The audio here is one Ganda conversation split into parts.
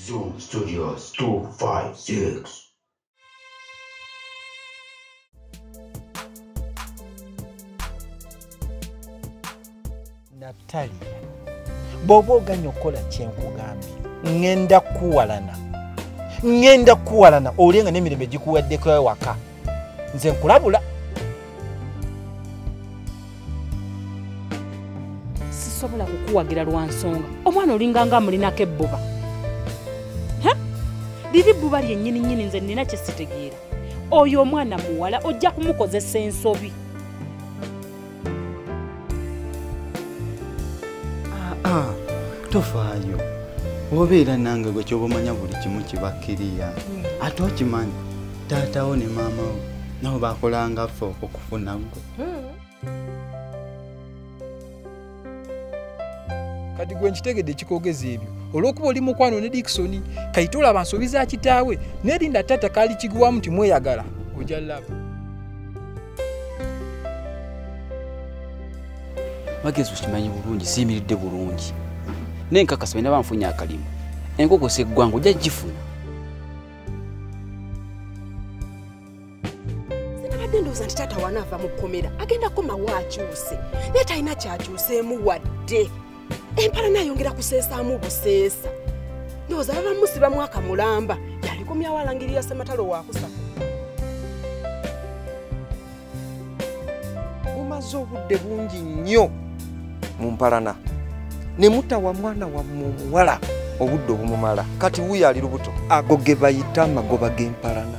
Zoom Studios 256. Naphtali, bw'oba oganya okukola kyenkugambye ngenda kukuwalana ngenda kukuwalana olye nga n'emirembe gikuwaddeko ewaka nze nkulabula sisobola kukuwagira lwa nsonga omwana olinganga amulinako ebbuba liri bbuba lyennyini nnyini nze nnina kye sitegeera oyo omwana muwala ojja kumukozesa ensobi tofaayo obeera nange gwe kyoba omanya buli kimu kibakkiriya ate okimanyi taatawo ne maamawo nabo bakolangaffe okufuna gwe kati gwe nkitegedde ekikogeza ebyo olwokuba oli mukwano ne dikisoni kayite olaba nsobi za kitaawe nerinda taata kaali kiguwamu nti mweyagala oja laba magezi okimanyi bulungi siyimiridde bulungi naye nkakasa bena banfunye akalimu enkoko seggwanga ojja gifuna sinabadde ndowooza nti taata wanaava mu kkomera agenda komawo akyuse naye talina kyakyuseemu wadde empala nayongera kuseesaamu buseesa ndowooza baba musiba mwaka mulamba yalikomyawo alangirira sematalo wakusa mumaze obudde bungi nnyo mu mpalana ne mutawa mwana wammwe omuwala obudde obumumala kati wuyo ali lubuto ago ge bayita amagoba g'empalana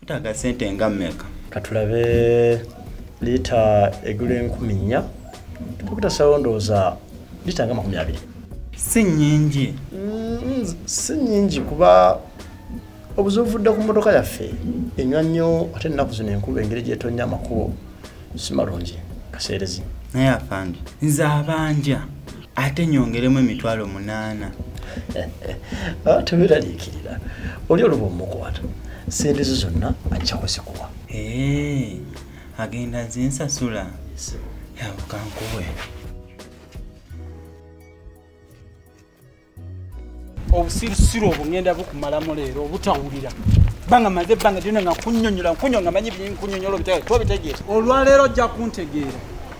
Tutaga sente nga meka. Katulabe lita egula enkumi nnya tukuta sawondooza lita nga makumi abiri si nyingi mm, si nyingi kuba obuzuvudde ku motoka yaffe enywa nnyo ate ennaku zino enkuba engeri gyetonya amakubo si malungi kaseerezi naye afandi nze abanja ate nyongeremu emitwalo munaana ah, teweraliikirira oli oluba omukwata sente zo zonna ajja kuzikuwa eh, agenda zinsasula yabukankuwe obusirusiru obwo ngenda bukumalamu leero obutawulira banga maze banga lyona nga kunyonyola nkunyonga manyi byenkunyonyola obitegeera olwaleero ojja kuntegeera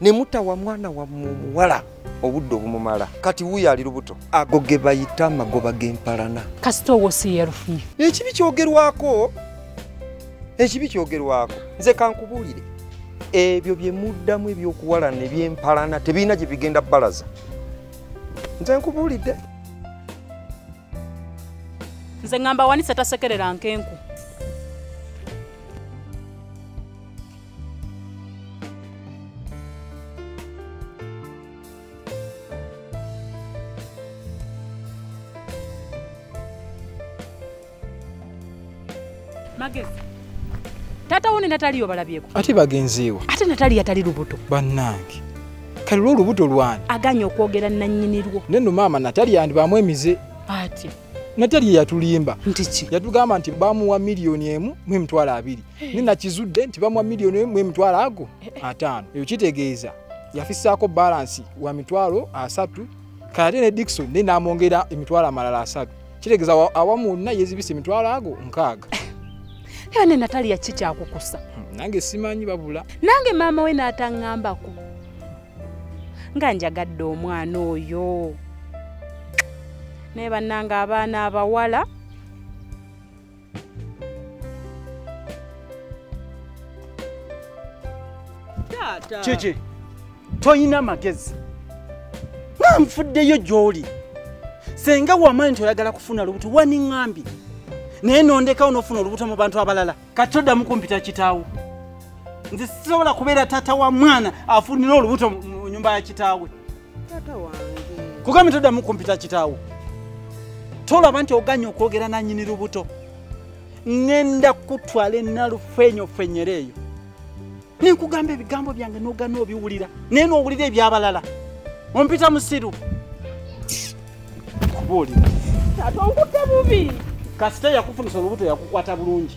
ne mutawa mwana wa muwala obudde obumumala kati wuyo ali lubuto ago ge bayita amagoba g'empalana kasita owo si yerufunye ekibi kyogerwako ekibi kyogerwako nze kankubuulire ebyo bye muddamu ebyokuwalana ebyempalana tebirina gye bigenda balaza nze nkubuulidde nze ngamba wanise tasekerera nkenku magezi taata wo ne nataliyo balabyeko ate bagenzeewa ate nataliyo atali lubuto bannange kale lwo olubuto lwani aganye okwogera nannyini lwo naye no maama nataliyo andibaamu emize ati nataliyo yatulimba ntiki yatugamba nti bamuwa miliyoni emu mu emitwalo abiri eh. ni nakizudde nti bamwa million emu emitwalo ago eh. ataano eyo kitegeeza yafisaako balansi wa mitwalo asatu kayate ne dikson naye namwongera emitwalo amalala asatu kitegeeza awamu wonna yezibisa emitwalo ago nkaaga era ne natali yaki kyakukusa hmm, nange simanyi babula nange maama we n'ataŋŋambako nga njagadde omwana oyo naye bannanga abaana abawala kiki toyina magezi nanfuddeyo gyoli senga wamanyi nti oyagala kufuna lubuto waniŋambye naye nondekawo nofuna olubuto mu bantu abalala kati toddamu kumpita kitaawo nze sisobola kubeera taata wa mwana afunire olubuto mu nyumba ya kitaawe kugambye toddamu kumpita kitaawo tolaba nti oganye okwogera nanyini lubuto ŋenda kutwala enalufenyofenyera eyo nenkugamba ebigambo byange nogana obiwulira naye nowulira ebyabalala ompita musiru kubuulira atonkutte bubi kasita yakufunisa olubuto yakukwata bulungi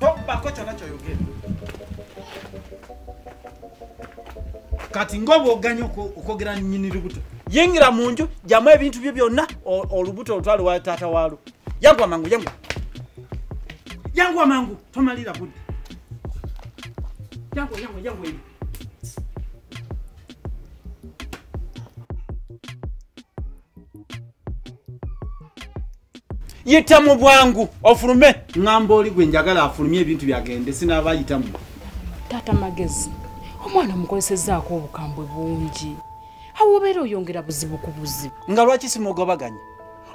tobbako kyona kyoyogera kati ngaoba oganye okwogera nyini lubuto yingira mu nju jamu ebintu byo byonna olubuto olutwale wa taata waalwo yangu amangu yangu yangu amangu tomalira budi yangu yangu yangu yangu yita mu bwangu ofulume ngamba oli gwe njagala afulumye ebintu byagende sinaba yitamu taata magezi omwana mukolesezaako obukambwe bungi awobeera oyongera buzibu ku buzibu nga lwaki simugobaganya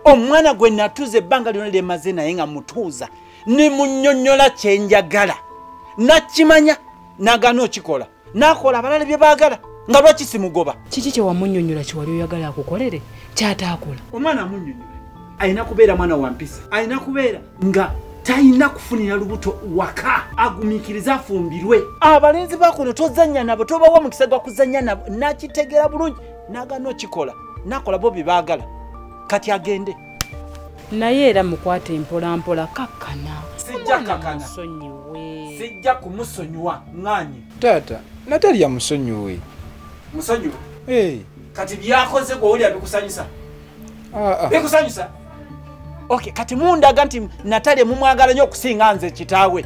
omwana gwe natuuza ebbanga lyona lyemaze naye nga mutuuza ne munyonyola kyenjagala nakimanya nagana okikola nakola abalala bye bagala nga lwaki simugoba kiki kyewamunyonyola kyewali oyagala akukolere kyataakola omwana amunyonyola alina kubeera mwana wa mpisa alina kubeera nga talina kufunira lubuto waka agumikiriza afumbirwe abalenzi bakuno tozanya nabo tobawa mukisa gwa kuzanya nabo nakitegera bulungi nagana okikola nakola bo byebaagala kati agende naye era mukwata empolampola kakkana sijja kumusonyiwa nganye taata natalya musonyiwe musonyiwe eh. kati byakoze gwewulira bikusanyusa ah, ah. bikusanyusa ok kati mundaga nti natalya mumwagala nyo okusinga nze kitaawe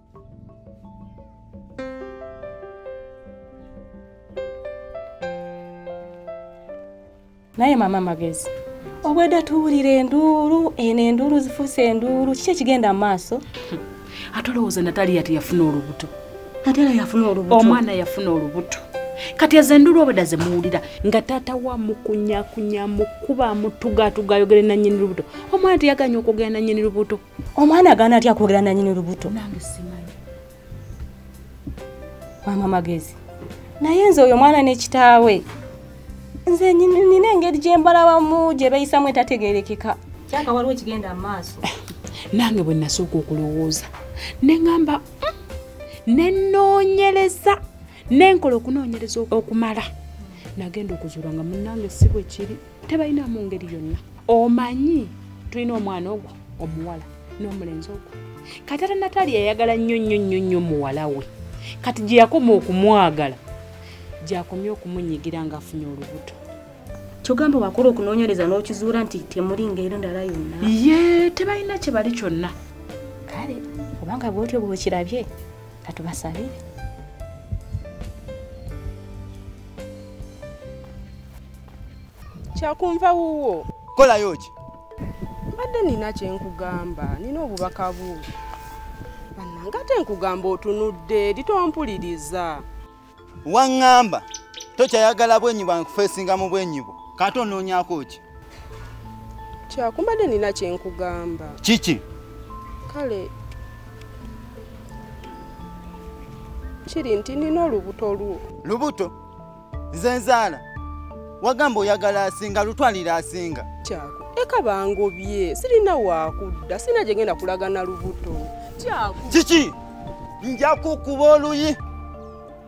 naye mama magezi obweda tuwulira enduulu eno enduulu zifuuse enduulu kiki ekigenda mu maaso ate olowooza nataliya teyafuna olubuto nataliya yafuna olubuto omwana yafuna olubuto kati ezo enduulu obweda zemuwulira nga taata wa mukunyakunya mukuba mutugatugayogere nanyini lubuto omwana teyaganya okwogera nanyini lubuto omwana agaana atya kwogera nanyini lubuto mama magezi naye nze oyo mwana nekitaawe nze nina engeri gyembalabamu gye beyisamu etategerekeka kyaka waliwo ekigenda mu maaso nange bwe nasooka okulowooza ne ŋamba mm, ne noonyereza nenkola okunoonyereza okumala nagenda okuzuula nga munange si bwe kiri tebalina mu ngeri yonna omanyi tulina omwana ogwo omuwala n'omulenzi ogwo kati ata nataali yayagala nnyo nnyo nnyo nnyo muwala we kati gye yakoma okumwagala gyakomye okumunyigira ng'afunye olubuto kyogamba wakola okunoonyereza n'okizuula nti temuli ngeri ndala yonna ye tebalina kye bali kyonna kale obanga bwotyo bwokirabye katubasabire kyakunva wuwo kolayo ki mbadde nina kyenkugamba nina obubaka bwo banange ate nkugamba otunudde eri tompuliriza waŋŋamba tokyayagala bwenyi bwankufeesinga mu bwenyi bwo kati onoonyako ki kyakumbadde nina kyenkugamba kiki kale kiri nti nina olubuto lwo lubuto nze nzaala wagamba oyagala asinga lutwalira asinga kyako eka bangobye sirina wakudda sirina gyengenda kulagana lubuto kyako kiki njakukuba oluyi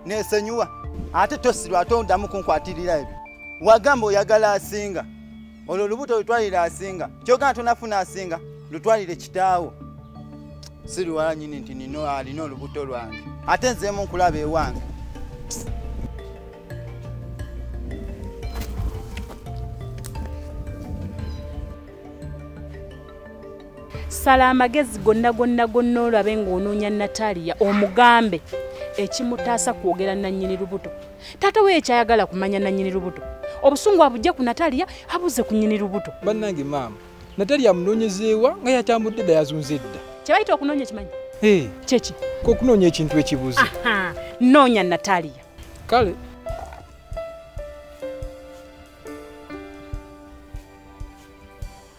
nesonyiwa ate tosirwa ate odamu kunkwatirira ebyo wagamba oyagala asinga olwo olubuto olutwalire asinga kyogana tonafuna asinga lutwalire kitaawo siriwala nyini nti nino alina olubuto lwange ate nzeemu nkulaba ewange sala amagezi gonna gonna gonna olabe ng'onoonya natalia omugambe ekimutaasa kwogera nannyini lubuto taata we ekyayagala kumanya nannyini lubuto obusungu abujja ku natalia abuze ku nnyini lubuto bannange maama natalia amunoonyezeewa nga yatambudde dda yazunze edda kyebayita okunoonya ekimanyi kyeki kokunoonya ekintu ekibuze noonya natalia kale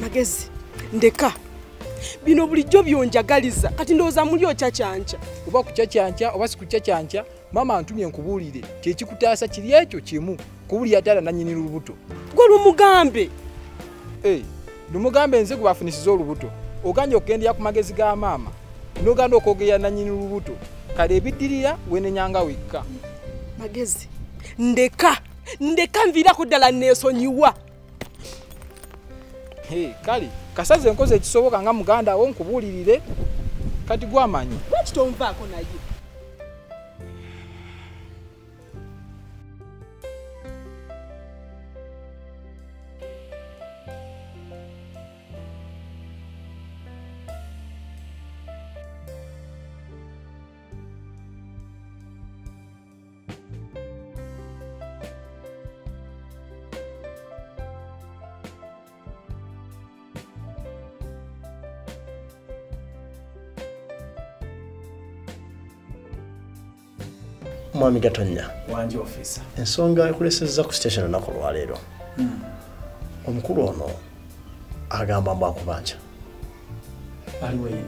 magezi ndeka bino bulijjo byonjagaliza kati ndowooza muli okyakyanca oba kukyakyanca oba sikukyakyanca maama antumye nkubuulire kyekikutaasa kiri ekyo kimu kubulira taala nanyini lubuto gwe lumugambe eh, lumugambe nze gwebafunisiza olubuto oganja okugendera ku magezi ga maama noganda okwogera nanyini lubuto kale ebidirira wenenyanga wekka magezi ndeka ndeka nviirako ddala neesonyiwa kale kasaze enkozi ekisoboka nga muganda wo nkubuulirire kati gwamanyi lwaki tonvaako naye mwami gatonya ensonga ekulesezza ku station olunaku olwaleero hmm. omukulu ono agamba mbu akubanja aliwo ye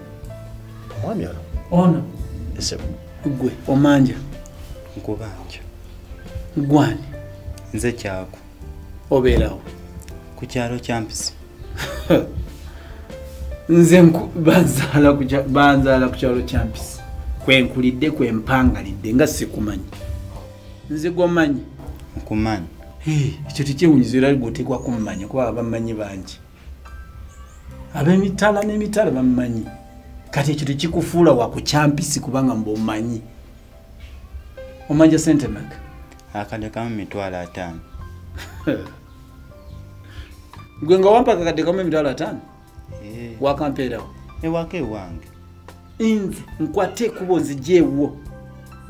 omwami ono ono esebo gwe omanja nkubanja gwani nze kyako obeerawo ku kyalo kyampisi nze banzaala ku kyalo kyampisi kwenkulidde kwempangalidde nga sikumanyi nze gwomanyi nkumanyi ekyo tekyewunyiza era gwoteekwa kumumanya kuba abamanyi bangi abemitala nemitala bamumanyi kati ekyo tekikufuula wakukyampisi kubanga mba omanyi omanja sente maka akade kamu mitwalo ataano gwe nga wampaka akade kamu emitwalo ataano eh. wakampeerawo ewaka eh, ewange nze nkwata ekuba ozija ewuwo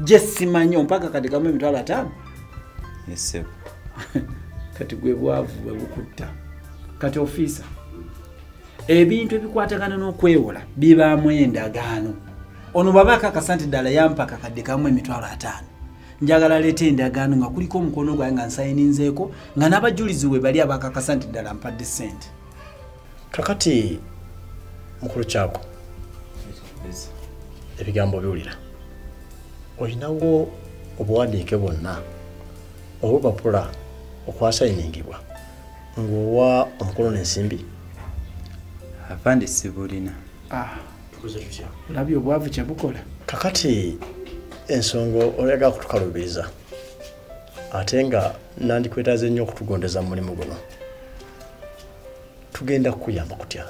gye simanyi ompaka kati kamu emitwalo ataano esebo kati gwe bwavu bwe bukutta kati ofiisa ebintu ebikwatagana n'okwewola bibaamu endagaano ono baba akakasa nti ddala yampaka kadde kamu emitwalo ataano njagala leeta endagaano nga kuliko omukono gwaye nga nsayininzeeko nga n'abajulizi we bali abakakasa nti ddala mpadde ssente kakati mukulu kyako ebigambo biwulira olinawo obuwandiike bwonna obupapula okwasayiningibwa ng'owa omukulu n'ensimbi afande sibulina ah. olabye obwavu kyebukola kakati ensonga oyaga kutukalubiriza ate nga nandikwetaze nnyo okutugondeza mu mulimu guno tugenda kukuyamba kutya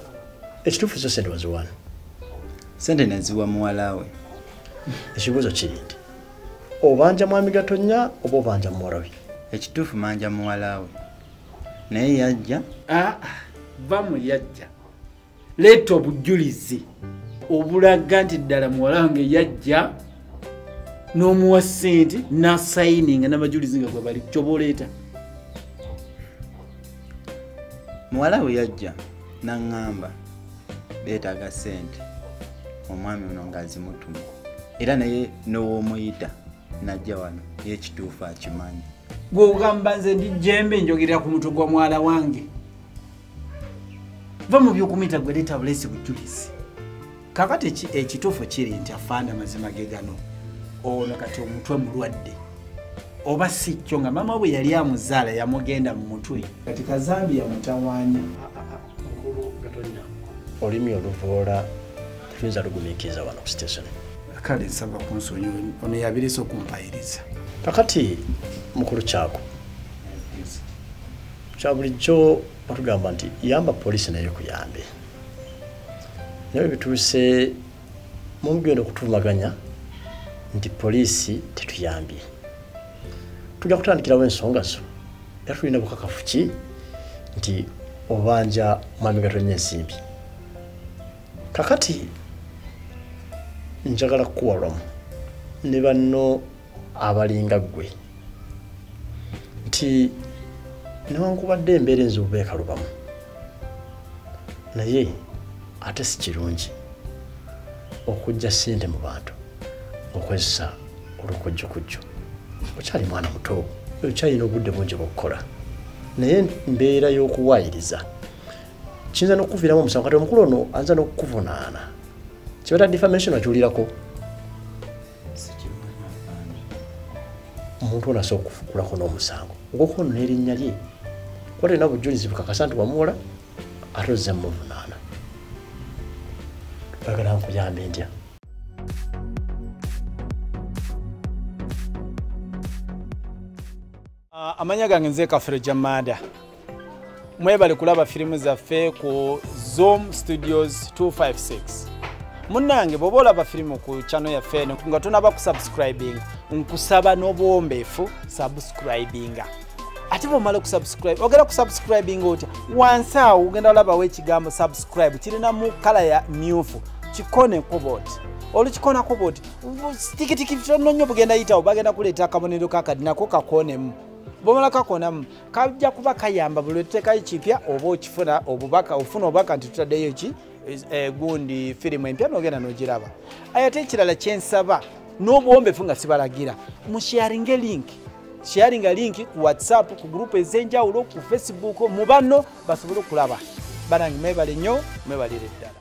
ekituufu zo sente waziwani sente naziwa muwalawe ekibuuzo kiri nti obanja mwami gatonya oba obanja muwarawe ekituufu manja muwalawe naye yajja ah, ah, va mu yajja leeta obujulizi obulaga nti ddala muwala wange yajja n'omuwa ssente n'asayininga n'abajulizi nga gwe bali kyoba oleeta muwala we yajja n'aŋŋamba beetaaga ssente omwami ono ng'azimutuma era naye n'ow'omuyita najja wano y'ekituufu akimanyi gwe ogamba nze ndi jembe njogerera ku mutwe gwa mwala wange va mu byokumita gwe leeta buleesi bujulizi kakati ekituufu kiri nti afaanda amazima ge gano ono kati omutwe mulwadde oba si kyo nga maama bwe yali amuzaala yamugenda mu mutwe kati kazambi yamutawanya olimi oluvoola tuyinza lugumikiriza wano ku station kale nsaba kunsonyi ono yabirisa okumpayiriza kakati mukulu kyako kyabulijjo batugamba nti yamba poliisi naye kuyambe naye bituuse mumugenda okutuvumaganya nti poliisi tetuyambye tujja kutandikirawo ensonga zo era tulina bukakafu ki nti obanja mwami gatonnya ensimbi kakati njagala kukuwalwamu ne banno abalinga ggwe nti newankubadde embeera enza obubeekalubamu naye ate si kirungi okujja ssente mu bantu okozesa olukujjukujju okyali mwana muto okyalina obudde bungi bwokukola naye mbeera y'okuwaayiriza kiyinza n'okukuviiramu omusango kati omukulu ono anza n'okukuvunaana kibata defamation akiwulirako omuntu ono asobola okufukulako n'omusango ngoko ono n'erinnya lye kuba tolina bujulizi bukakasa nti wamuwola ate ozze mumuvunaana bagala nkuyambe ntya Ah, amanya gange nze kafere jamada mwebale kulaba firimu zaffe ku zoom studios 256 munange bwoba olaba firimu ku chano yaffe eno nga tonaba kusubscribing nkusaba n'obuwombeefu subscribinga ate bwomala okusubscribe ogenda kusubscribinga otya wansi awo ogenda olabawo ekigambo subscribe kirina mu kala ya myufu kikone kuba oti olukikonako bwoti tikitiki tononyo bugenda yitawo bagenda kuleeta akabonero kakadi nako kakonemu bwomala kakonamu kajja kuba kayamba buli lwetuteekayo kipya oba okifuna obubaka ofuna obubaka nti tutaddeyo ki eh, gundi firimu empya nogenda nogiraba ayate ekirala kyensaba n'obuwombefu nga sibalagira musharinge link sharinga link ku whatsapp ku gurupu ez'enjawulo ku facebook mu banno basobole okulaba banange mwebale nnyo mwebalire ddala